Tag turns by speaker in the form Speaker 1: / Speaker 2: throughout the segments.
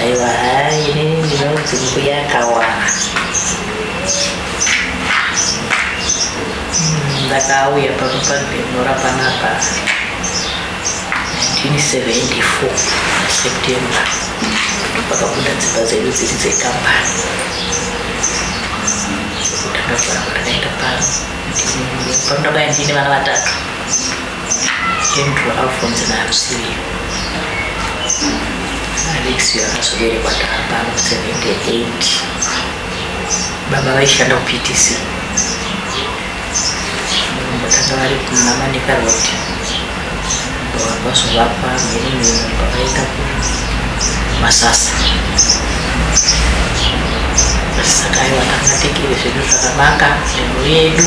Speaker 1: Aiwa hai inini ndinonzi mbuya kawana hmm, ndakauya pano padenora panapa 1974 september pakabuda dzimba dzedu dziri dzekambani ndakagara ndakaenda pano pano ndakaya ndine vana vatatu Came to Alphonse and Alusilio. Alexio akazoberekwa taapano 78 baba vaishanda kuPTC mbotanga vari kumamanika road vazovakwa mhiri mhiri pavaita masasa saka aiwa takatekere zvedu zvakanaka nhengo yedu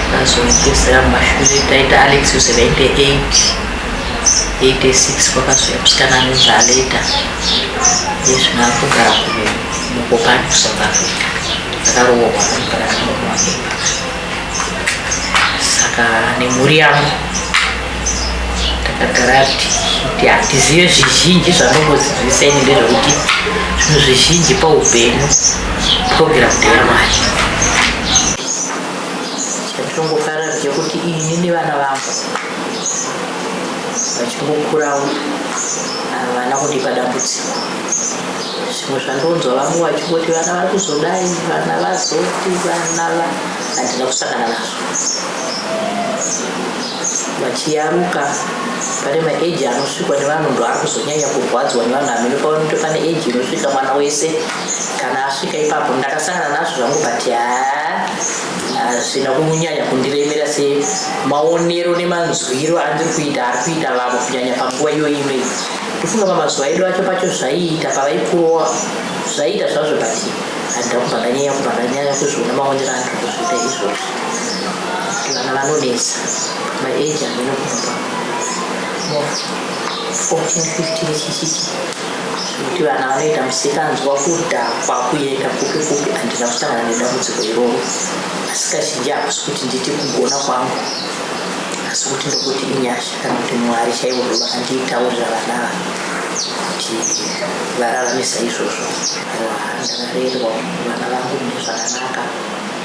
Speaker 1: Ndakazopedzera mumashure taita Alex was 98 86 kwakazouya musikana anonzi Aleta yezvino akugara mukopani kuSouth Africa akaroorwa anogara nemumwe wake saka nemhuri yangu takagara kuti hatizive zvizhinji zvanombozidzisa ini ndezvekuti zvinhu zvizhinji paupenyu purogiramu ndeyamwari chatongofara ndechekuti ini nevana vangu vachingokurawo havana kundipa dambudziko zvimwe zvandonzwa vamwe vachingoti vana vari kuzodai vana vazoti vana va handina kusangana nazvo vachiyaruka pane maeji anosvikwa nevanhu ndo ari kuzonyanya kurwadzwa nevanhu hameno pavanoti pane eji inosvika mwana wese kana asvika ipapo ndakasangana nazvo zvangu but haa hazvina kunyanya kundiremera semaonero nemanzwiro andiri kuita ari kuita vamwe kunyanya panguva iyoyi imei ndifunga pamazuva edu acho pacho zvaiita pavaikurowa zvaiita zvazvo but handakubvakanyaya kubvakanyaya kuzviona maonero andiri kuzviita izvozvo vana vanonetsa my age hameno kubva mo 14 15 chichichi kuti vana vanoita musikanzwa kudhakwa kuenda kupi kupi handina kusangana nedambudziko iroro asi kazhinji hakusi kuti nditi kugona kwangu asi kuti ndokuti inyasha kana kuti mwari chaivo ndo vakandiitaurira vana ava kuti vararamisa izvozvo aiwa ndakarerwa vana vangu mune zvakanaka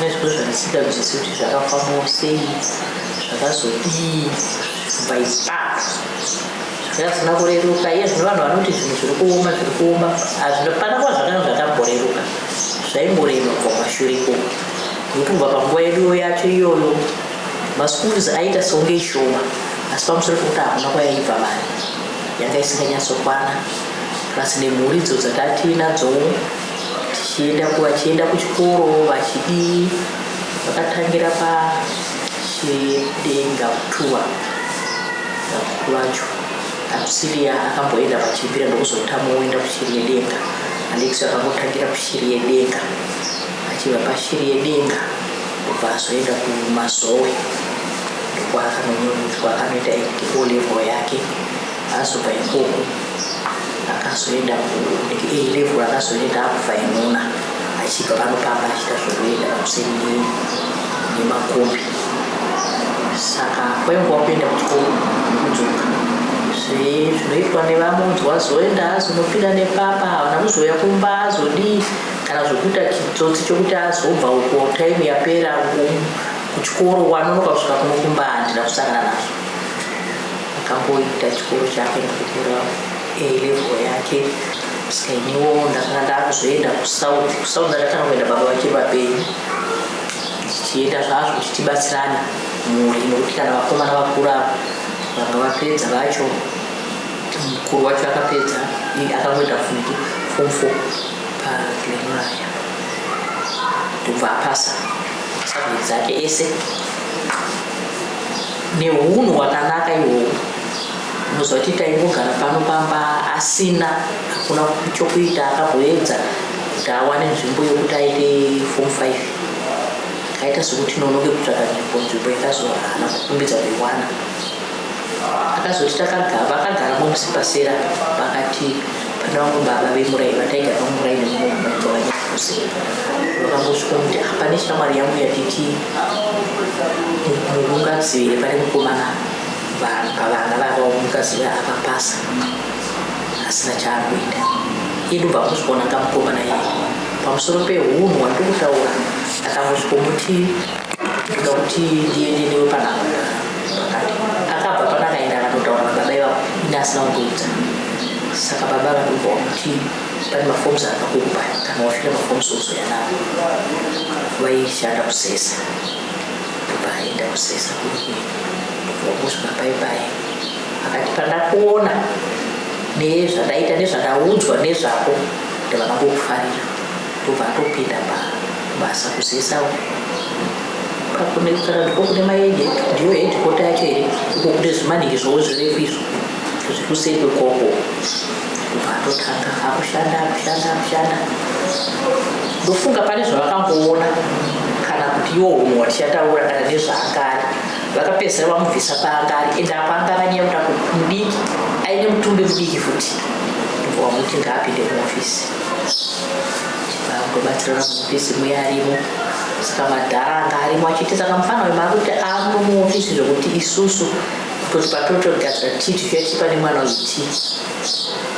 Speaker 1: nezviro zvandisida kunzwisisa kuti zvakafambawo sei zvakazodii by back zvakasina kureruka iye zvino vanhu vanoti zvinhu zviri kuoma zviri kuoma hazvipana kuva zvakana zvakamboreruka zvaingorema kubva pashure ikoko nokuti kubva panguva yeduyo yacho iyoyo maschools aita seunge ishoma asi pamusoro pekuti hakuna kwayaibva mari yanga isinganyatsokwana plus nemhuri idzo dzatatiinadzowo tichienda vachienda kuchikoro vachidii vakatangira pachidenga kutuwa vakuru vacho akusiria akamboenda pachipira ndokuzotama woenda kushiri yedenga andikisi akangotangira kushiri yedenga achiva pashiri yedenga kubva azoenda kumazowe ndokwaakanonoitwa akanoita o level yake Azobva ikoko akazoenda kulevel akazoenda abva imuna achibva pano pamba achita zvekuenda pakuseni nemakombi saka kwainguva kuenda kuchikoro nekudzoka zvinoitwa nevamunzi wazoenda azonopinda nepapa havana kuzouya kumba azodii kana zvekuita chitsotsi chokuti azobva uko time yapera kuchikoro wanonoka kusvika kunokumba handina kusangana nazvo Akamboita chikoro chake nekukura A-level yake saka iniwo ndakanga ndakuzoenda kusouth kusouth ndakatanga kuenda baba vachiri vapenyu tichienda zvazvo kuti tibatsirane mhuri nokuti kana vakomana vakura vanga vapedza vacho mukuru wacho akapedza akangoenda futi form four paglenaya ndobva apasa masabheti dzake ese nehunhu hwakanaka ihwohwo unoziva kuti taingogara pano pamba asina hakuna chokuita akamboedza kuti awane nzvimbo yokuti aite form five akaita sokuti nonoke kutsvaka nzvimbo nzvimbo ikazohana kukumbidza kuiwana akazoti takagara akagara momusipasera pakati Pana vangu baba vemurai vataigara vamurai nemumwe mumba wanyakuse vakangosvika kuti apa neshamwari yangu yatiti mukungazivire pane mukomana pavana vava mukazivira akapasa asina chaakuita idu vakuzvionanga mukomana iye pamusoro pehunhu wandiri kutaura akangosvikomuti saka baba vanobva kuti pane mafoms akakupa kana wafira mafoms oso yanavo vaishanda kusesa vaenda kusesa kusvika pai pai akati pandakuona nezvandaita nezvandaudzwa nezvako ndavana kukufarira ndobva atopinda pabasa kuzesa uko pakunekutara ndiko kune maagent ndiyo hedikota yacho here uko kune zvimaniki zvowo zvirefu izvo zviri kuseri kwekoko ndobva atotanga akushanda akushanda akushanda ndofunga pane zvavakamboona kana kuti iwo humwe watichataura kana nezvaangari vakapedzisira vamubvisa paangari ende apo anga akanyaya kuda kuti mudiki aine mutumbi mudiki futi ndobva wamuti ngaapinde muofisi kubatsira maofisi muya arimo saka madhara anga arimo achiti saka mufana uyu maakuti aamwe muofisi zvekuti isusu kuti patotogadzira tii tichatipa nemwana uyu tii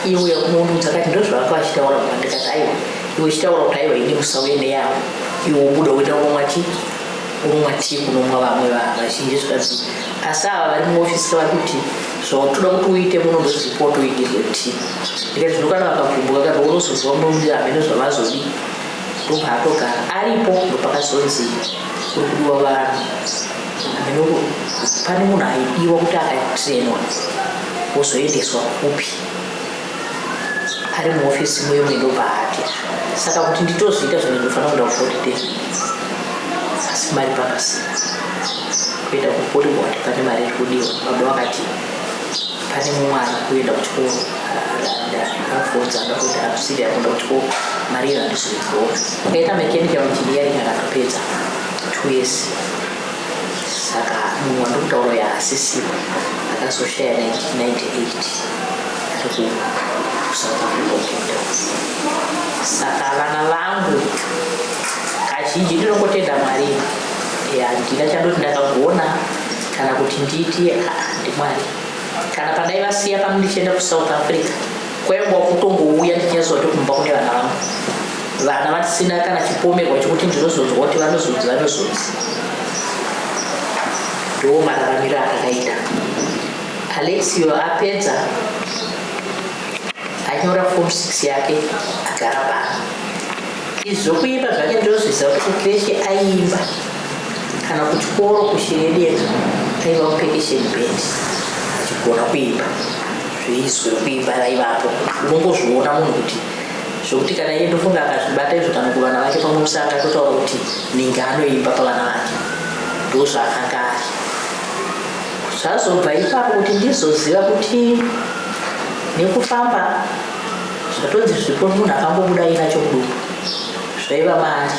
Speaker 1: iye uya kunounudza kati ndozvavanga vachitaura mwana ndikati aiwa iwe chitaura kuti aiwa ini musauye neyavo iwe ubuda uenda unomwa tii unomwa tii kunomwa vamwe vazhinji zvikanzi asi ava vari muofisi kavari kuti zvautoda kuti uite muno ndozvipo toitirwe tii ndikati zvino kana vakavhumbuka kati unozoziva murume hamene zvavazodii ndobva atogara aripo ndopakazonzi kuri kudiwa vanhu hameno pane munhu aidiwa kuti akatrenwa wozoendeswa kupi ari muofisi muyo mendobva ati saka kuti nditozviita zvine ndofanira kuda kufotitea asi mari pakasina kuenda kukuri ngokuti pane mari iri kudiwa baba vakati pane mumwe ari kuenda kuchikoro akafonza anga kuti akusiri akuenda kuchikoro mari iyo handizviziwo akaita mechanical engineering akatopedza two years saka munhu wandikutaura yaasisiwe akazoshaya 1998 ari kusouth africa ukenda saka vana vangu kazhinji ndinongotenda mwari handina chandoti ndakagona kana kuti nditi ndimwari kana pandaivasiya pano ndichienda kusouth africa kwaingwa kutongouya ndinyaziva kuti kumba kune vana vangu vana vasina kana chipomerwa chekuti ndinozonzwa kuti vanozonzi vanozonzi ndo mararamiro akakaita alexio apedza anyora form six yake agara pano Izvo kuimba zvake ndozvisa kuti kukreshi aiimba kana kuchikoro kushiredieka aiva kupekesheni bendi achigona kuimba zveizwe kuimba raivapo unongozviona munhu kuti zvokuti kana iye ndofunga akazvibata izvo kana kuvana vake pamwe musi akatotaura kuti ninge anoimba pavana vake ndozvaakanga ari zvazobva ipapo kuti ndizoziva kuti nekufamba zvatonzi zvipo munhu akangobuda aina chokudumbu zvaiva mari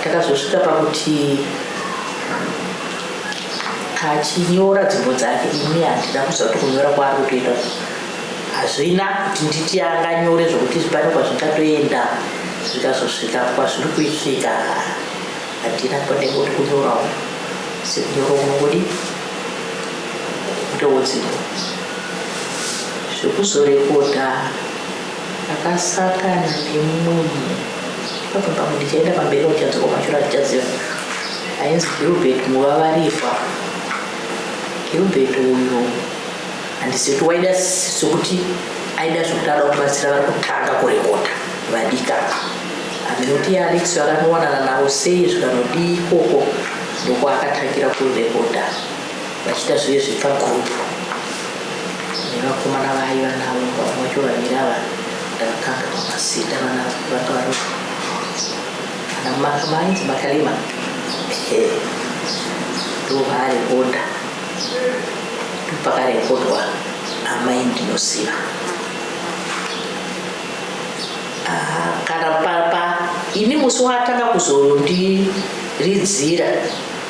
Speaker 1: takazosvika pakuti achinyora dzimbo dzake ini handina kuziva kuti kunyora kwaari kutoita hazvina kuti nditi anganyore zvokuti pane kwazvingatoenda zvikazosvika kwazviri kuisvika handina kwanenge kuti kunyorawo sekunyora unongodi ndowodzimbo zvekuzorekota akasakana nemunhu pabva pamwe ndichaenda pamberi uchadzoka mashura achichaziva ainzi gilbert muvavarihwa gilbert uyu handisi kuti waida sokuti aida zvokuti ada kubatsira vari kutanga kurekota vadika handinoti yaalex vakanowanana navo sei zvikanodii ikoko ndokuakatangira kurekota Vachiita zviye zvepagroup nevakomana vaye vanavo vamwe vacho vaviri ava ndavakanga vamazita vana vanga vari ana makamanzi makalima ndovaarekodha ndopakarekodwa amai ndinoziva kana papa ini musi waatanga kuzondiridzira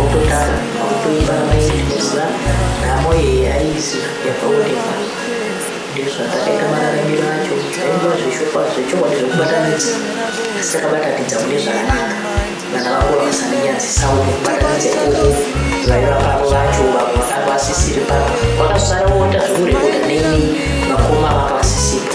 Speaker 1: Okutanga kuimba mainzwa nhamo iyi aizi yakaonekwa ndezvatakaita mararamiro acho zvainga zveshokwa zvechokwadi zvekubatanidza asi takabatanidza mune zvakanaka vana vangu vakasandinyadzisa kubatanidza ikoko vaiva pano vacho vamwe vakanga vasisiri pano kwakazara kuonda zvekurekota neni vakoma vanga vasisipo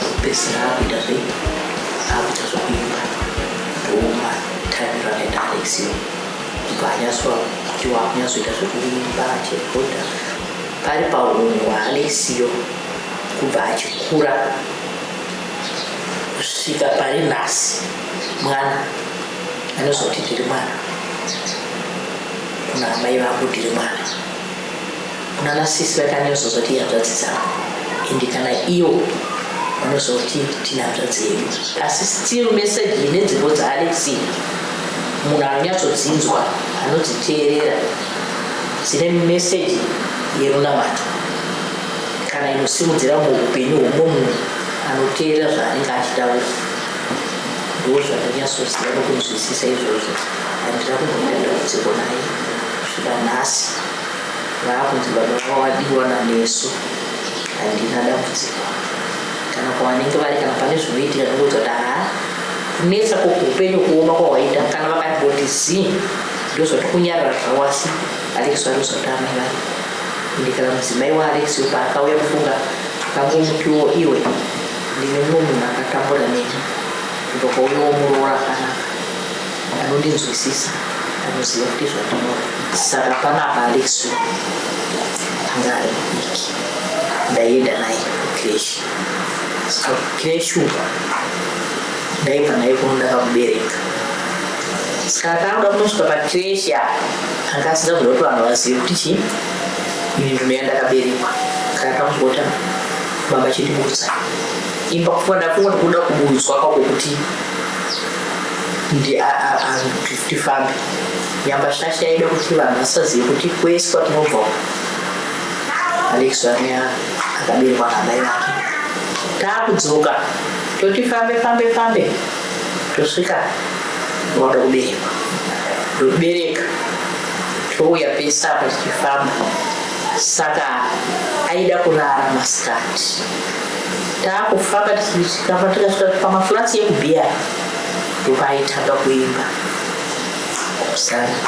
Speaker 1: kupedzisira akuita zve akuita zvekuimba ndouma time rakaenda alexio ibva anyaswa kuti wakunyatsoita zvekuimba achirekodha pari paunhu hwaalexio kubva achikura kusvika pari nhasi mwana anozoti ndiri mwana kuna amai vangu ndiri mwana kunana sisi vakanyozozva kuti ihanzvadzi dzangu ende kana iyo vanozva kuti tine hanzvadzi yedu asi still message ine dzimbo dzaalexi munhu anonyatsodzinzwa anodziteerera dzine message yerunamato kana inosimudzira muupenyu hwomunhu anoteerera zvaanenge achitaura ndozvandonyatsoziva nokunzwisisa izvozvo handira kumbomira ndambudziko naye kusvika nhasi vaakunzi baba vavo vadiwa nameso handina dambudziko kana kwavanenge vari kana pane zvinoitika ndikuti kuti haa kunetsa kwokuupenyu kuoma kwawaita kana vakandiboti zii ndozvati kunyarara zvawasi alex vanozvati amai vari ndikana mudzimai waalex paakauya kufunga akangomutiwo iwe ndine mumwe munhu akatambura neni ndokouyawo muroora akanaka anondinzwisisa anoziva kuti zvandinoda saka panapa alexu anga ari mudiki ndaienda naye kukreshi saka kukreshi uko ndaibva naye kuno ndakamubereka saka akaoda kunosvika pakreshi a anga asina kuda kuti vanhu vazive kuti chii ini nduno yandakaberekwa saka akamumbota baba chindibudza imba kufunga ndafunga ndokuda kubudzwa kwakokuti ndiaarr kuti tifambe nyamba shasha yaida kuti vanhu vasazive kuti kwese kwatinobva alex vake akaberwa namai vake taakudzoka toti fambe fambe fambe tosvika vanoda kuberekwa ndobereka touya pese apa tichifamba saka aida kurara masikati taakufamba tichikamba tikasvika pamaflats yekubhiya ndokwaitanga kuimba kusana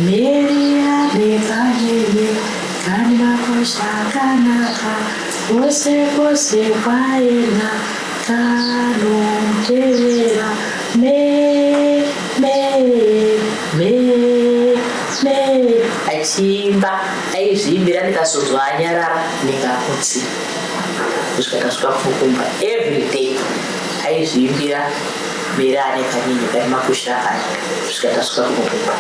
Speaker 1: meri abekanyenye kani makosha akanaka kwose kwose kwaenda kanotevera me me me me achiimba aizviimbira ndikazonzwa anyarara ndikakutsira kusvika tasvika pfukumba every day Aizviimbira bere ane kanyini kane makusha akati kusvika tasvika kunokupa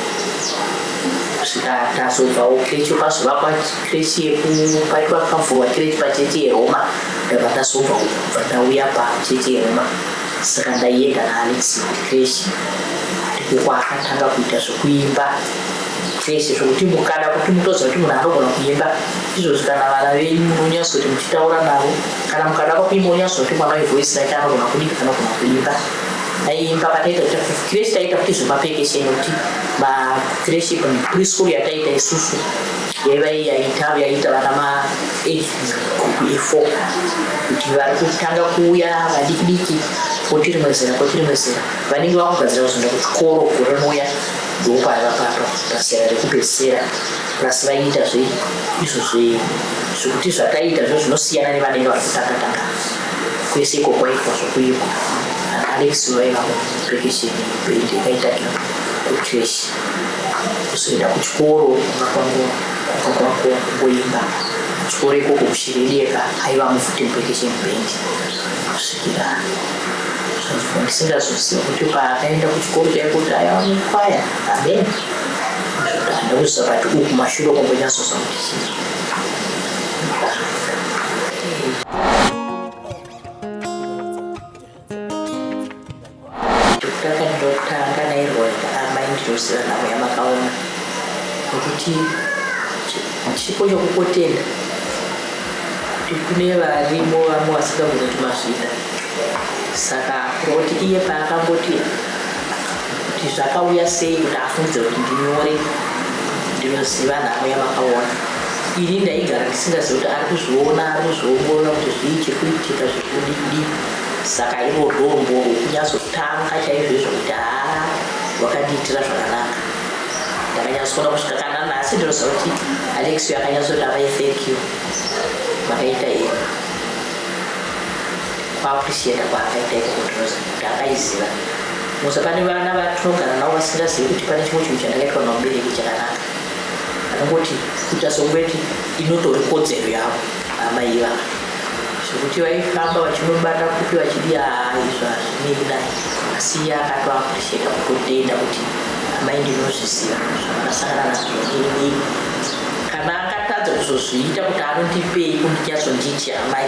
Speaker 1: kusvika tazobvawo kirechi kwazovakwa kirechi yekupaitwa pavhurwa kirechi pachechi yeroma ndabva ndazobva kubva ndauya pachechi yeroma saka ndaienda naalex kirechi ndikuko akatanga kuita zvekuimba zvese zvokuti mukada kuti mutoziva kuti munhu anogona kuimba izvozvi kana vana venyu munonyatso kuti muchitaura navo kana mukada kwakuimba unyatsotuma mai voice right anogona kudika kana kugona kuimba aiimba pataita krecresh taita kuti zvemapekesha inoti macresh preschool yataita isusu yaiva yaita yaita vana ma group efour kuti vari kutanga kuuya vadikidiki koti rimwe zera koti rimwe zera vanenge vakugadzira kuzoenda kuchikoro gore rinouya ndopavapapa pasera rekupedzisira plus vaiita zve izvo zve zvekuti zvataita zvo zvinosiyana nevanenge vari kutakataka kwese iko kwaitwa zvokuiko alex vaivavo rekesheni bendi yakaitaira kuchurch kuzoenda kuchikoro kumba kwangu kumba kwangu kungoimba kuchikoro ikoko kushiririeka aiva mufuti murekesheni bendi kusvikira ndisingazoziva kuti paakaenda kuchikoro chaikuti aiva mukwaya amen ndakuzakati uku mashure kwambonyasosa ndokutanga nairwanda amai ndiyosira navo yamakaona nokuti chipo chokukotenda kuti kune varimo vamwe vasingagona kuti mazvida saka kuroti iye paakamboti kuti zvakauya sei kuti afungidze kuti ndinyore ndinoziva nhamo yamakaona ini ndaigara ndisingazivi kuti ari kuzviona ari kuzviongorora kuti zvii chiri kuitika zviri kudidii saka iro rombo rokunyazotanga chaizvoizvo kuti haa wakandiitira zvakanaka ndakanyazokona kusvika kana nhasi ndinoziva kuti alexio akanyazoti avai thank you makaita ii Kwakusienda kwaakaita iko kundinozi kuti akaiziva musa pane vana vatinogara navo vasingazivi kuti pane chimwe chinhu chandakaitwa namubereki chakanaka anongoti kuita songweti inotori kodzero yavo amai ivava zvekuti vaifamba vachinobata kupi vachidia izvo hazvinei kudai asi iye akatoapurisheta kutotenda kuti amai ndinozviziva zvamakasangana nazvo ini kana akatadza kuzozviita kuti anondipei kundinyazonditi amai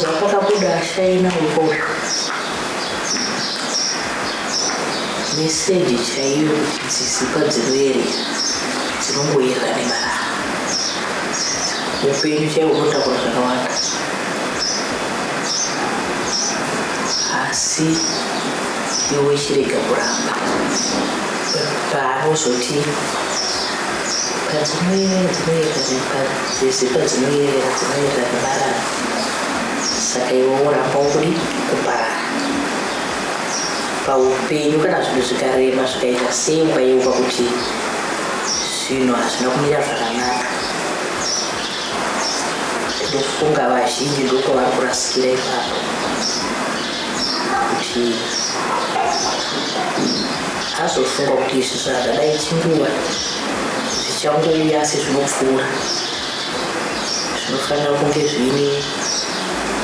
Speaker 1: zvapakabuda ashaina ukoko meseji chaiyo kuti dzisikwa dzinoyerera dzinongoyerera nemarara upenyu chaiwo unotakura zvakawanda asi iwe chirega kuramba paanozoti padzinoyerera dzinoyerera Sisi padzinoyerera dzinoyerera nemarara saka iwe woramba uri kuparara paupenyu kana zvinhu zvikarema zvikaita sei ukayeuka kuti zvinhu hazvina kumira zvakanaka ndofunga vazhinji ndokwavari kurasikira ipapo kuti azofunga kuti izvi zvadadai chinguva zvichangouya asi zvinopfuura zvinofanira kunge zviine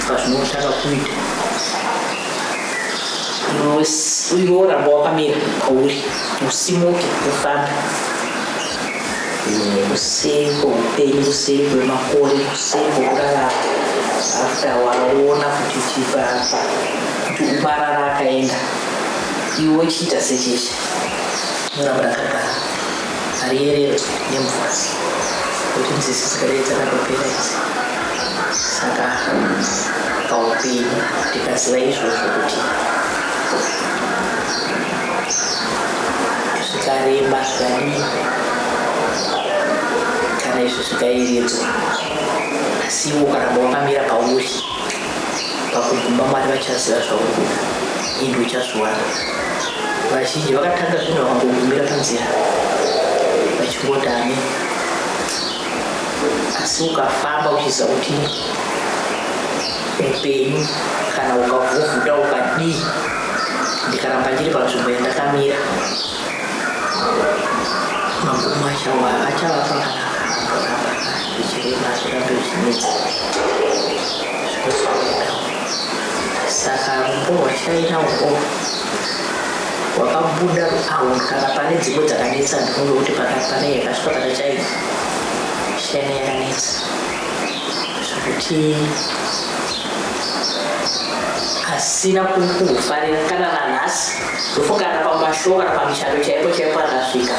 Speaker 1: pazvinotanga kuita iwe oramba wakamira kwauri usimuke ufambe kusei kweupenyu kusei kwemakore kusei kwekurarama after waona kuti chipapa kuti umarara akaenda iwe chiita secheche Muramu rakagara hariyererwe nemvura kuti nzizi dzikadai dzakatopera idzi saka paupenyu ndikaziva izvozvo kuti zvikareba zvikadii kana izvi zvikayeredzwa asi iwo ukaramba wakamira pauri pakuguma mwari vachaziva zvauri kuda ende uchazviwana vazhinji vakatanga zvinhu vakangogumira panzira vachingodane asi ukafamba uchiziva kuti upenyu kana ukavhuvhuta ukadii ndikaramba ndiri panzvimbo yandakamira magumo achava achava pakanaka saka rupo rwachaina uko rwakabuda awo kana pane dzimwe dzakanetsa ndifunge kuti pane yakasvika pana chaina chaina yakanetsa zvekuti asina kukufarira kana nanhasi ndofokana pamashoka kana pamishando chaipo chaipo akasvika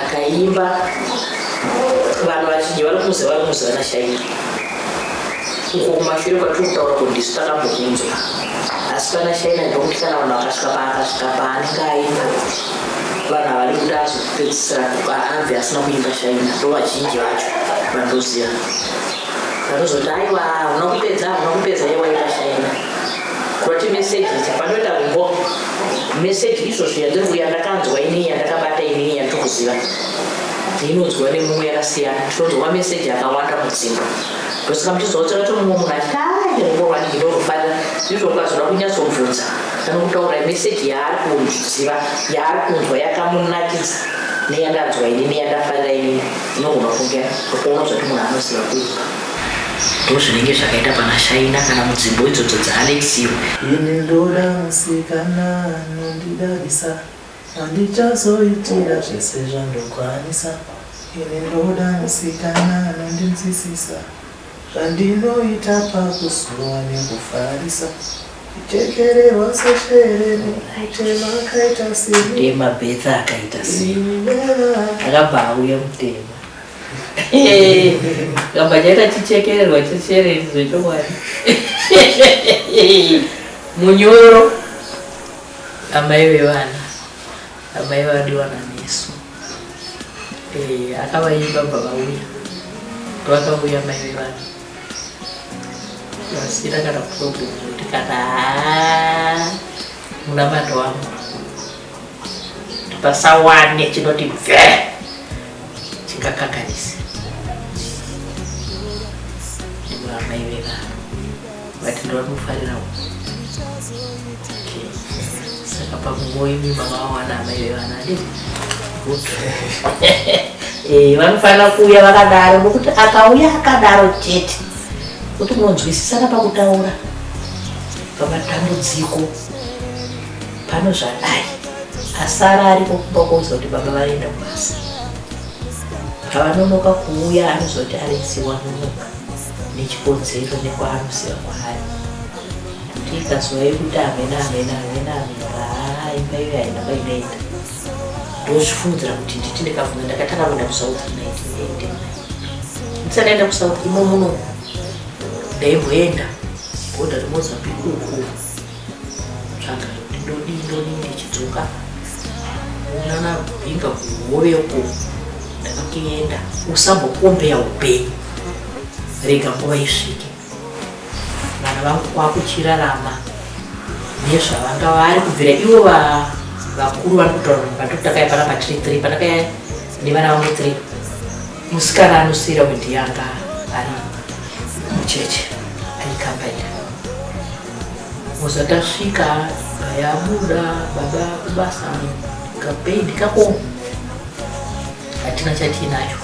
Speaker 1: akaimba vanhu vazhinji vanomuziva vanomuziva nashaina uko kumashure kwatiri kutaura kuti ndisu takambokunzwa asi pana shaina ndokuti kana vanhu vakasvika paakasvika paanenge aimba vanhu havadi kuti azopedzisira anzi asina kuimba shaina ndo vazhinji vacho vandoziva vanozoti aiwa una kupedza una kupedza ye waita shaina kurati meseji idzi panoita kumbo meseji izvozvo yandiri kuya ndakanzwa inii yandakabata inii yandiri kuziva inodzwa nemumwe yakasiyana tinodzwa mameseji akawanda mudzimba ndosaka muchizoa kuti ato mumwe munhu achiti aeowaniki ndozvofanira ndizvo ukazoda kunyatsomvunza anokutaura meseji yaari kuziva yaari kunzwa yakamunakidza neyandanzwa ini neyandafarira ini inogona kunge ndokuona zvati munhu anoziva kuipa ndo zvinenge zvakaita pana shaina kana mudzimbo idzodzo dzaalexiwa ini ndoda
Speaker 2: musikana anondidadisa Handichazoitira zvese zvandokwanisa ini ndoda musikana anondinzwisisa zvandinoita pakusuwa nekufarisa kuchekererwa seshere nekutema akaita seni Tema betsa akaita
Speaker 1: sei? ini nevana Akabva auya mutema. Kamba chaita chichekererwa cheshere zvechokwadi. Munyoro. Amai vevana, amai vadiwana nesu. Eh, akavaimba bva vauya. Vakauya mai vevana. Vasira kana problem kuti kana haa munamato wangu. Pasawane chinoti bve chingakanganisa. Ndivo amai vevana. But ndovamufarira uko. Okay. Saka pakungoyi mimba vawana amai vevana de. Okay. Eh, vanofanira kuuya vakadaro nokuti akauya akadaro chete kuti munonzwisisana pakutaura pamatambudziko pano zvadai asara ariko kumba kouza kuti baba vaenda kubasa pavanonoka kuuya anozoti arisiwa nonoka nechikonzero nekwaanosiya kwaari kuti ikazova yekuti amena amena amena amena haa imba iyo haina kwainoenda ndozvifungira kuti nditi ndikafunga ndakatanga kuenda kusouth naitende ndisanaenda kusouth imo muno ndaimboenda boda remozambique ukuu tsvaga ndodii ndodii ndichidzoka unana bhinga kuhove uko ndakatoenda usambokombeya upenyu rega nguva isvike vana vangu kwakuchirarama nezvavanga vari kubvira ivo vakuru vari kutaura vatotaka yapana patiri three pandakaya nevana vangu three musikana anosiyira wendi yanga ari mucheche aikambaira Musa tasvika yabuda baba kubasa kapendi kako hatina chatiinacho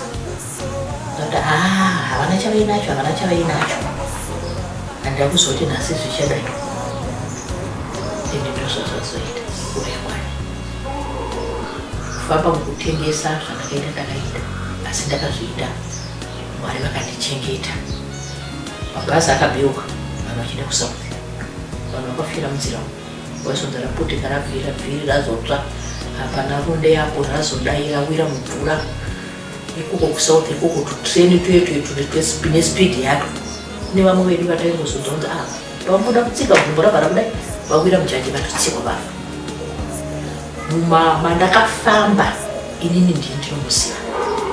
Speaker 1: ati ah, havana chavainacho havana chavainacho handida kuzoti nhasi zvichadai ende ndozvazvazoita kurekwani kufamba mukutengesa zvandakaita ndakaita asi ndakazviita mwari vakandichengeta mabhazi akabeuka vanhu vachienda kusouth vanhu vakafira munzira umu waisonza raputika rabvira bviri razotsva hapana runde yapo razodai rawira mumvura ikuko kusouth ikuko tutreni tuye tuye tune spidi yato kune vamwe vedu vataingozodhonza ava ah, vamuda kutsika gumbo ravara kudai vawira mujaji vatotsikwa vava mumama ndakafamba inini ndini ndinomuziva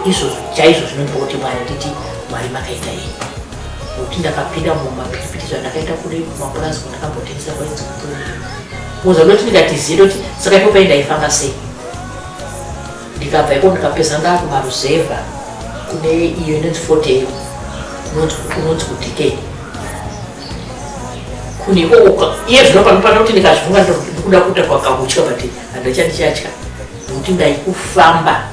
Speaker 1: izvo chaizvo zvinondipa kuti mwari nditi mwari makaita yei nokuti ndakapinda mumapiripiti zvandakaita kuri kumapurazi kwandakambotengesa kwainzi kutori kuza ndoti ndikatiziye ndoti saka ipo pai ndaifamba sei ndikabva iko ndikapeza ndakumaruzevha kune iyo inonzi fotel unonzi kudikei kune ikoko iye zvinopanopanoti ndikazvivunga ndikuda kuita kwakahutya but handichandichatya nokuti ndaikufamba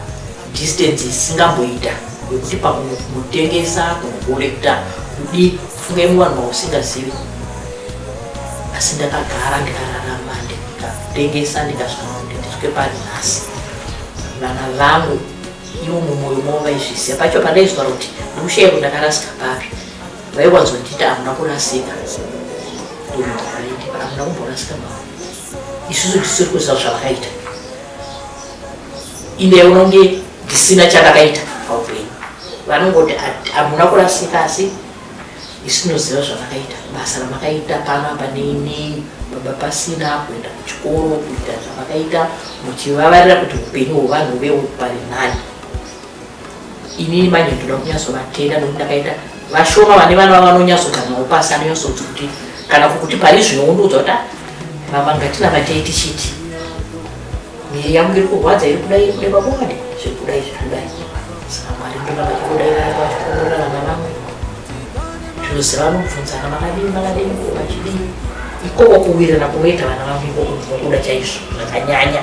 Speaker 1: distance isingamboita yokuti pakunotengesa kunokorekta kudi kufunga imwe vanhu vausingazivi asi ndakagara ndikararama ndikatengesa ndikasvika kuti ndisvike pari nhasi vana vangu ivo mumwoyo mavo vaizvisiya pacho pandaizvitaura kuti ndikushaiko ndakarasika papi vaiwanzondita hamuna kurasika hamuna kumborasika mavo isusu tisiri kuziva zvavakaita ine yaona kunge ndisina chandakaita paupenyu vanongoti hamuna kurasika asi isinoziva zvavakaita basa ramakaita pano apa neinei baba pasina kuenda kuchikoro kuita zvavakaita muchivavarira kuti upenyu hwevanhu veuparinani inini manje ndoda kunyatsovatenda nokuti ndakaita vashoma vane vana vava vanonyatsoganwa upasi anonyatsoti kuti kana kuti pari zvino undiudza kuti mama ah, ngatina vatei tichiti miri yangu iri kurwadza iri kudai kuda pabonde zviri kudai zviri kudai saka mwari ndovakakudai vachiongorora vana vamwe zvinoziva vanobvunzana makadini makadini vachidii ikoko kuwirana kunoita vana vangu ikoko ndinokuda chaizvo zvakanyanya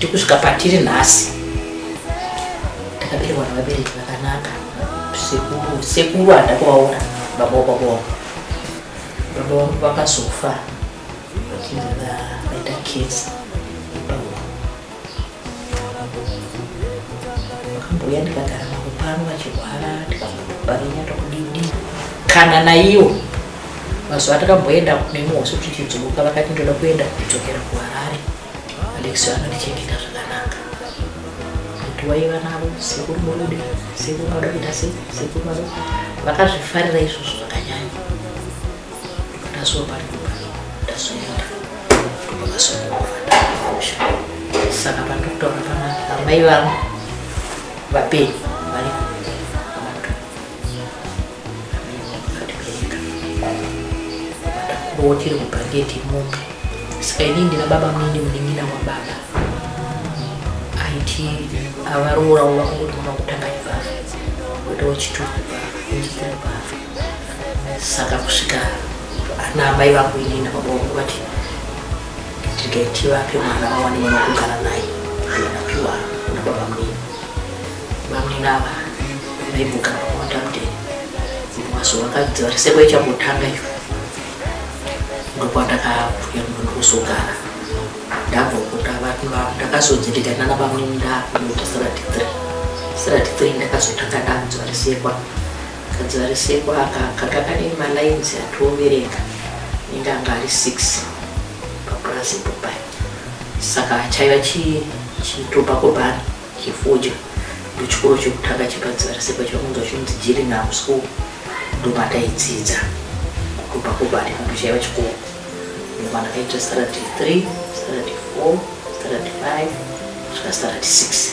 Speaker 1: tikusvika patiri nhasi takaberekwa nevabereki vakanaka sekuru sekuru handa kuvaona baba wababa baba vangu vakazofa vachinge vaita kesi vakambouya ndikagara navo pano vachirwara tikavarinyata kudidi kana naiwo mazuva takamboenda nemuhosi kuti chidzoka vakati ndoda kuenda kudzokera kuharare alexi anondichengeta zvakanaka kuti waiva navo sekuru murude sekuru vanoda kuita sei sekuru vano vakazvifarira izvozvo zvakanyanya ndasuwa pari kupano ndazoenda ndopakasokuova ndakumusha saka pandiri kutaura panapa amai vangu vapenyu vari kuvatakurawo tiri mubhangeti mombe saka inini ndina baba muini munin'ina wababa aiti avaroora wova kungoti mwana kutanga ivava wotowo chituku saka kusvika ana amai vangu inini nababa vangu vati regai tivape mwana vawane mwana wekugara naye anapiwa nababa munini bamunini ava vaibvugara vawanda mudeni mazuva akadzi vari sekwa ichambotanga iyo ndokwandakabvuya munhu kuzogara ndabva kuta vati ndakazodzitita nana bamunini ndakunoita sirati three sirati three ndakazotanga ndanzwa risekwa Kadzivariseko aka kanga kane malines atioverenga inenge anga ari six papurazi ipo pai saka chaiva chitopako bhani chefodya ndochikoro chekutanga chepadzivariseko chakunzwa chinonzi jirinham school ndomataidzidza kutopako bhani kanto chaiva chikoro ndomana kaita saradi three saradi four saradi five kusvika saradi six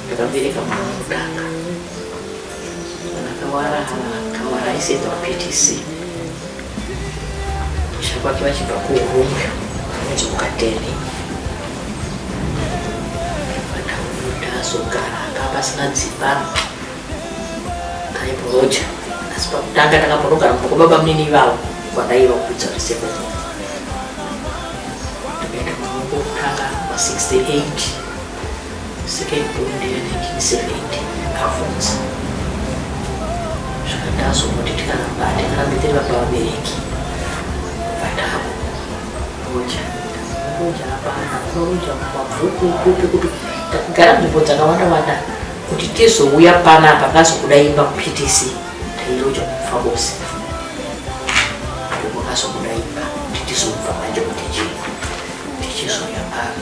Speaker 1: Ndakabereka mwana wekutanga. Mwana akawara akawara aisaenda kuPTC. Kusha kwake vachibva kuHurungwe kunonzi kuKatene. Vakabuda azogara anga pasina dzimba aiboroja asi pakutanga takaborogara mumba kwababa munini ivavo kwandaiva kupedza reseven ndikaita mwana wekutanga wa 68 Second born ndere 1970 kavhunza zvaka ndazongoti tikaramba tikarambe tiri vapa vabereki vatavo roja roja hapana roja mabvuku kupi kuti takagara nzvimbo dzakawanda wanda kuti tizouya pana apa kazokuda imba kuptc tairoja kufa kose ndipo kazokuda imba kuti tizobva manje kuti chii tichizouya pana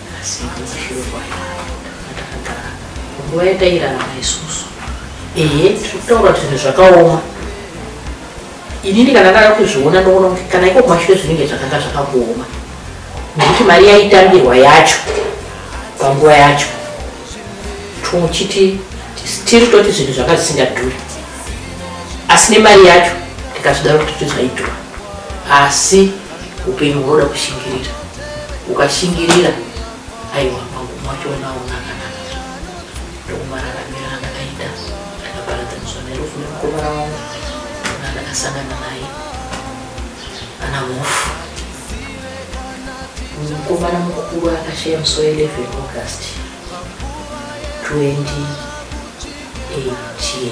Speaker 1: Asi ndakashorwa ndakagara nguva yatairarama isusu ehe tiri kutaura kuti zvinhu zvakaoma inini kana ndada kuzviona ndoona kuti kana iko kumashure zvinenge zvakanga zvakangooma nekuti mari yaitambirwa yacho panguva yacho tochiti tiri toti zvinhu zvanga zvisingadhuri asi nemari yacho tikazvidaro kuti tizvaidhura asi upenyu hunoda kushingirira ukashingirira aiwa pangu mwachoona unakanaka ndokumararamira andakaita ndakaparadzaniswa nerufu nemukomana wangu nandakasangana naye ana mhofu mukomana mukuru akashaya musi wa 11 august 2018